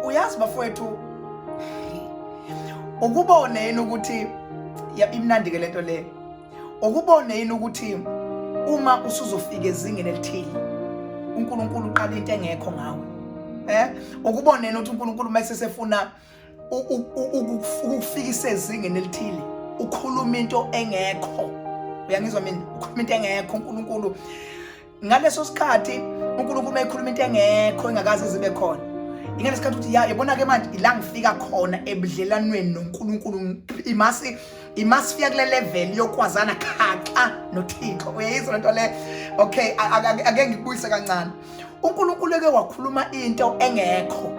uyazi bafowethu ukubone yini ukuthi imnandi-ke le nto le ukubone yini ukuthi uma usuzofika ezingeni elithile unkulunkulu uqala into engekho ngawe eh ukubone yini ukuthi unkulunkulu uma esesefuna ukukufikisa ezingeni elithile ukhuluma into engekho uyangizwa mina ukhuluma into engekho unkulunkulu ngaleso sikhathi unkulunkulu uma ekhuluma into engekho engakaze zibe khona ingane sikhathi ukuthi ya yabona-ke manje ila ngifika khona ebudlelanweni nonkulunkulu imasi imasifika kule level yokwazana khaxa nothixo uyayizwa lento le okay ake ngikubuyise kancane unkulunkulu eke wakhuluma into engekho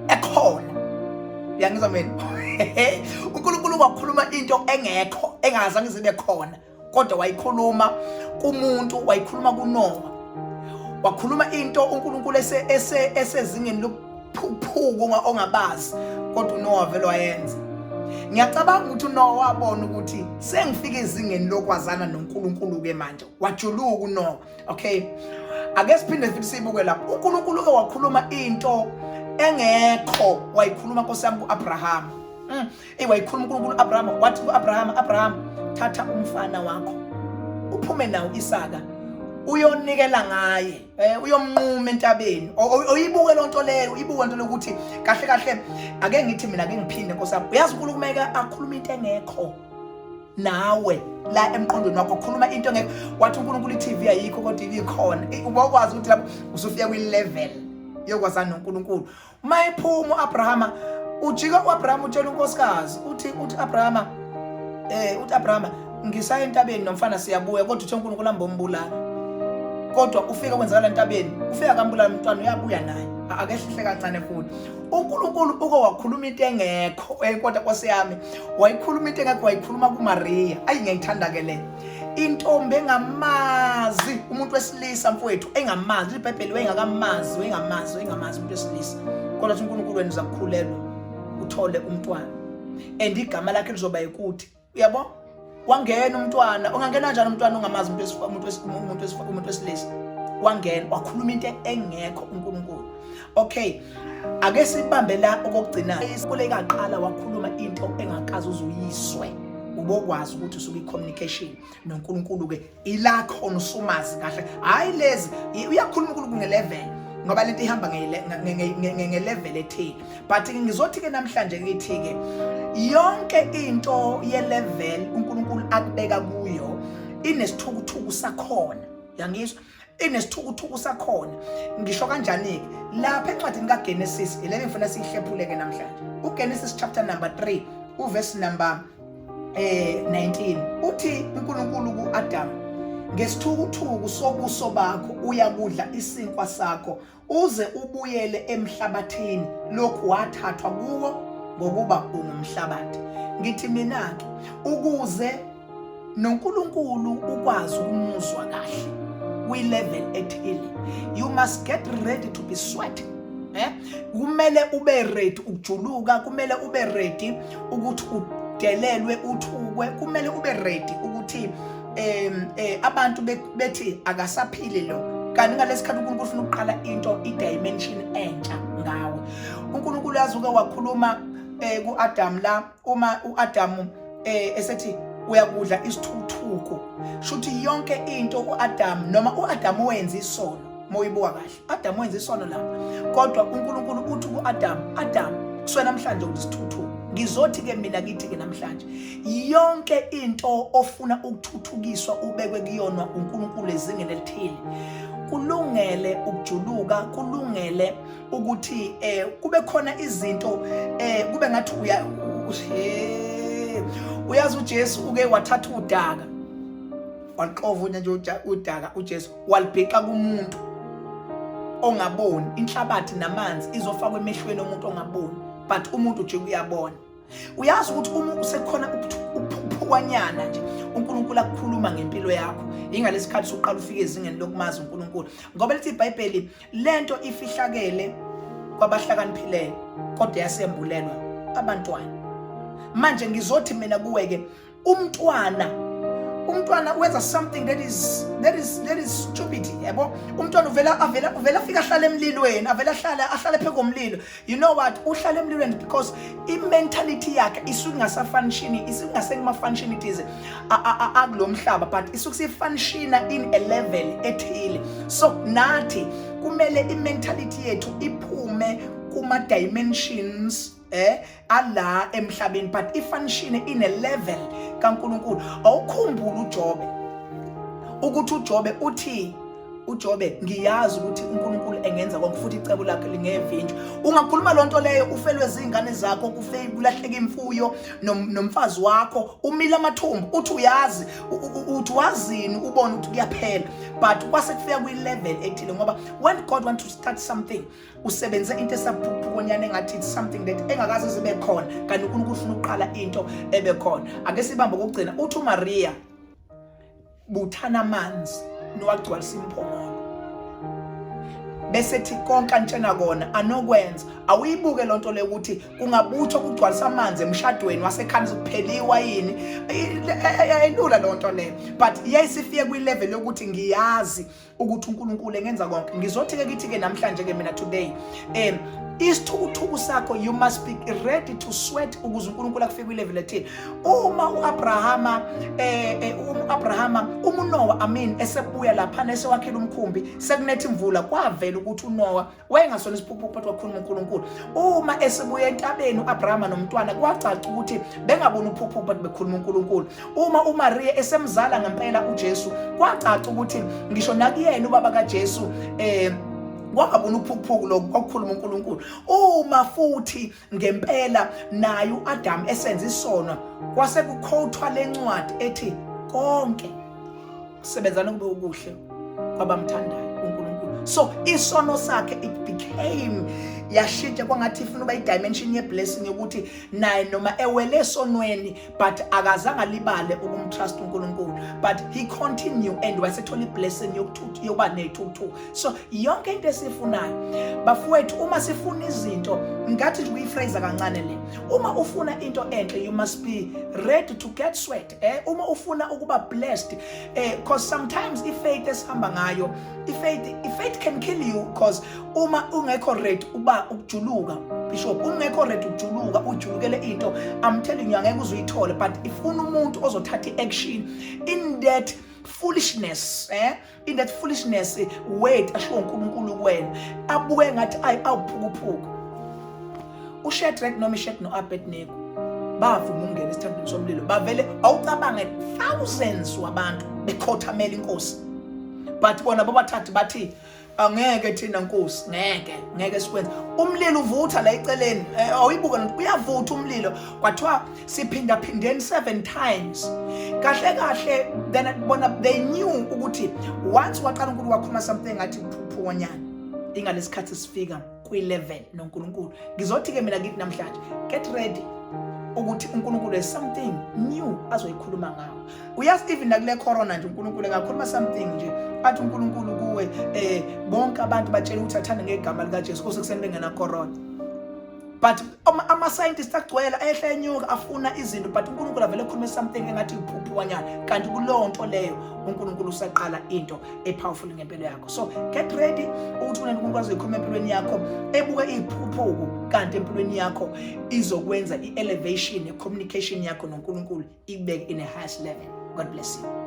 ekhona uyangizwa mina unkulunkulu wakhuluma into engekho engazange zibe khona kodwa wayikhuluma kumuntu wayikhuluma kunowa wakhuluma into unkulunkulu esezingeni lokuphuphuka ongabazi kodwa unowa vele wayenza ngiyacabanga ukuthi unowa wabona ukuthi sengifika ezingeni lokwazana nonkulunkulu-ke manje wajuluka unowa okay ake siphinde futhi siyibuke lapho unkulunkulu-ke wakhuluma into engekho wayikhuluma nkosi yami ku-abrahama mm. Eyi wayikhuluma uNkulunkulu Abrahama wathi ku-Abrahama, Abrahama thatha umfana wakho uphume nawo Isaka uyonikela ngaye eh, uyomnquma entabeni oyibuke loo nto leyo uyibuke nto lokuthi kahle kahle ake ngithi mina ke ngiphinde nkosami uyazi unkulunkulu kumeke akhulume into engekho nawe la emqondweni wakho khuluma into engekho wathi unkulunkulu i-tv ayikho kodwa ibikhona ubokwazi ukuthi lapho usufika kwi-level yokwazana nonkulunkulu uma iphuma u-abrahama ujika u-abrahama utshela unkosikazi uthi uthi abrahama um eh, uthi abrahama ngisaya entabeni nomfana siyabuya kodwa uthe unkulunkulu ambombulala kodwa ufika kwenzakala entabeni ufika kambulala umntwana uyabuya naye akehlihle kancane futhi unkulunkulu uke wakhuluma into engekho kodwa kwase yami wayikhuluma into engekho wayikhuluma kumariya ayi ngiyayithanda ke le intombi engamazi umuntu wesilisa mfowethu engamazi ibhayibheli wayengakamazi wayengamazi wayengamazi umuntu wesilisa kodwa ukuthi unkulunkulu wena uzakukhulelwa uthole umntwana and igama lakhe lizoba yikuthi uyabo wangena umntwana ungangena njani umntwana ongamazi umuntu wesilisa wangena wakhuluma into engekho unkulunkulu okay ake sibambe la okokugcina isikole kaqala wakhuluma into engakazi uzuyiswe ubokwazi ukuthi usuke i-communication noNkulunkulu-ke ila khona usumazi kahle hhayi lezi uyakhuluma uNkulunkulu nge-level ngoba lento ihamba nge-level ethile but ngizothi-ke namhlanje kithi-ke yonke into ye-level uNkulunkulu akubeka kuyo inesithukuthuku sakhona yangizwa inesithukuthuku sakhona ngisho kanjani-ke lapha encwadini kagenesis ile ngifuna siyihlephuleke namhlanje ugenesis chapter number 3 uvesi number eh 19 uthi unkulunkulu ku-adamu ngesithukuthuku sobuso bakho uyakudla isinkwa sakho uze ubuyele emhlabathini lokhu wathathwa kuwo ngokuba ungumhlabathi ngithi mina-ke ukuze noNkulunkulu ukwazi ukumuzwa kahle kwi-level ethile you must get ready to be sweating eh kumele ube ready ukujuluka kumele ube ready ukuthi udelelwe uthukwe kumele ube ready ukuthi um eh, abantu bethi akasaphile lo kanti ngalesi khathi unkulunkulu ufuna ukuqala into i-dimension entsha ngawe unkulunkulu yazuke wakhuluma um ku-adamu la uma u-adamu um esethi uyakudla isithuthuko shuthi yonke into u-adamu noma u-adamu wenza isono uma uyibuka kahle Adam wenza isono la kodwa uNkulunkulu uthi ku Adam Adam kuswe namhlanje ukuthi sithuthuke ngizothi ke mina kithi ke namhlanje yonke into ofuna ukuthuthukiswa ubekwe kuyona uNkulunkulu ezingeni elithile kulungele ukujuluka kulungele ukuthi eh kube khona izinto eh kube ngathi uya uyazi uJesu uke wathatha udaka waqova nje udaka uJesu walibhixa kumuntu ongaboni inhlabathi namanzi izofakwa emehlweni omuntu ongaboni but umuntu nje uyabona uyazi ukuthi uma usekhona ukuphuphukwanyana nje uNkulunkulu akukhuluma ngempilo yakho ingalesikhathi soqala ufike ezingeni lokumazi uNkulunkulu ngoba lithi iBhayibheli lento ifihlakele kwabahlakaniphileyo kodwa yasembulelwa abantwana manje ngizothi mina kuwe ke umntwana umntwana wenza something that is that is that is stupid yabo umntwana uvela avela uvela afika ahlala emlilweni avela ahlala ahlale phezu komlilo you know what uhlala emlilweni because i mentality yakhe isuke ingasa function isuke ingase kuma function ithize akulomhlaba but isuke si function in a level ethile so nathi kumele i mentality yethu iphume kuma dimensions eh ala emhlabeni but ifanishine ine level kaNkuluNkulu awukhumbula uJobe ukuthi uJobe uthi uJobe ngiyazi ukuthi uNkulunkulu engenza konke futhi icebo lakhe lingevinjwa ungakhuluma lonto leyo ufelwe izingane zakho kufe kulahleka imfuyo nomfazi wakho umile amathumbu uthi uyazi uthi wazini ubona ukuthi kuyaphela but kwase kufika kwi level ethile ngoba when God want to start something usebenze into esaphukonyana engathi it's something that engakaze zibe khona kanti unkulunkulu ufuna ukuqala into ebe khona ake sibambe kokugcina uthi umariya buthana amanzi niwagcwalisa imphongolo bese thi konke antshena kona anokwenza awuyibuke loo nto leyo ukuthi kungabuthwa kugcwalisa amanzi emshadweni wasekhanda sokuphela iwayini ayilula loo nto leyo but yayisifike kwi-level yokuthi ngiyazi ukuthi uNkulunkulu engenza konke ngizothi ke kithi ke namhlanje ke mina today um isithukuthuku sakho you must be ready to sweat ukuze uNkulunkulu akufike kwilevel ethile uma uAbrahama eh, eh uAbrahama umuNowa amin esebuya lapha nesewakhela umkhumbi sekunethe imvula kwavela ukuthi uNowa wayengasona isiphukuphuku phakathi kwakhuluma uNkulunkulu uma esibuya entabeni uAbrahama nomntwana kwacaca ukuthi bengabona uphukuphuku phakathi bekhuluma uNkulunkulu uma uMaria esemzala ngempela uJesu kwacaca ukuthi ngisho nakuyena ubaba kaJesu eh kwangabona uphukuphuku lokho kwakukhuluma uNkulunkulu uma futhi Ngempela naye uAdam esenza isono kwase kukhothwa lencwadi ethi konke sebenzana kube ukuhle kwabamthandayo uNkulunkulu. So isono sakhe it became yashintsha kwangathi ifuna uba idimension yeblessing yokuthi naye noma ewele esonweni but akazange alibale ukumtrust uNkulunkulu but he continue and wasethola iblessing yokuthutha yokuba nethuthu so yonke into esifunayo bafowethu uma sifuna izinto ngathi nje kuyifraser kancane le uma ufuna into enhle you must be ready to get sweat eh uma ufuna ukuba blessed eh cause sometimes ifaith esihamba ngayo ifaith ifaith can kill you cause uma ungekho red uba ukujuluka bishop ungekho red ukujuluka ujulukele into i'm telling you angeke uzuyithole but ifuna umuntu ozothatha i-action in that foolishness eh in that foolishness eh, word ashiwo uNkulunkulu kuwena abuke ngathi ayi awuphukuphuku uShadrach noma iShek noAbednego bavuma ukungena esithandweni somlilo bavele awucabange thousands wabantu bekhothamela inkosi but bona bobathathu bathi angeke thina nkosi ngeke ngeke sikwenze umlilo uvutha la eceleni eh, awuyibuka lento uyavutha umlilo kwathiwa siphinda phindeni 7 times kahle kahle then bona they knew ukuthi once waqala uNkulunkulu wakhuluma something ngathi phuphunyana ingalesikhathi sifika kwi-level noNkulunkulu ngizothi-ke mina kithi namhlanje get ready ukuthi uNkulunkulu is something new azoyikhuluma ngawo uyazi even nakule corona nje uNkulunkulu engakhuluma something nje athi uNkulunkulu kuwe eh bonke abantu batshela ukuthi athanda ngegama likaJesu kose kuseni bengena corona but ama scientist agcwele ehla enyuka afuna izinto but uNkulunkulu avele ekhulume something engathi iphuphuwanyana kanti kulowo nto leyo uNkulunkulu usaqala into epowerful ngempilo yakho so get ready ukuthi kunento umuntu azoyikhuluma empilweni yakho ebuke iphuphuku kanti empilweni yakho izokwenza i-elevation ne-communication yakho nonkulunkulu ikubeke in a highest level god bless you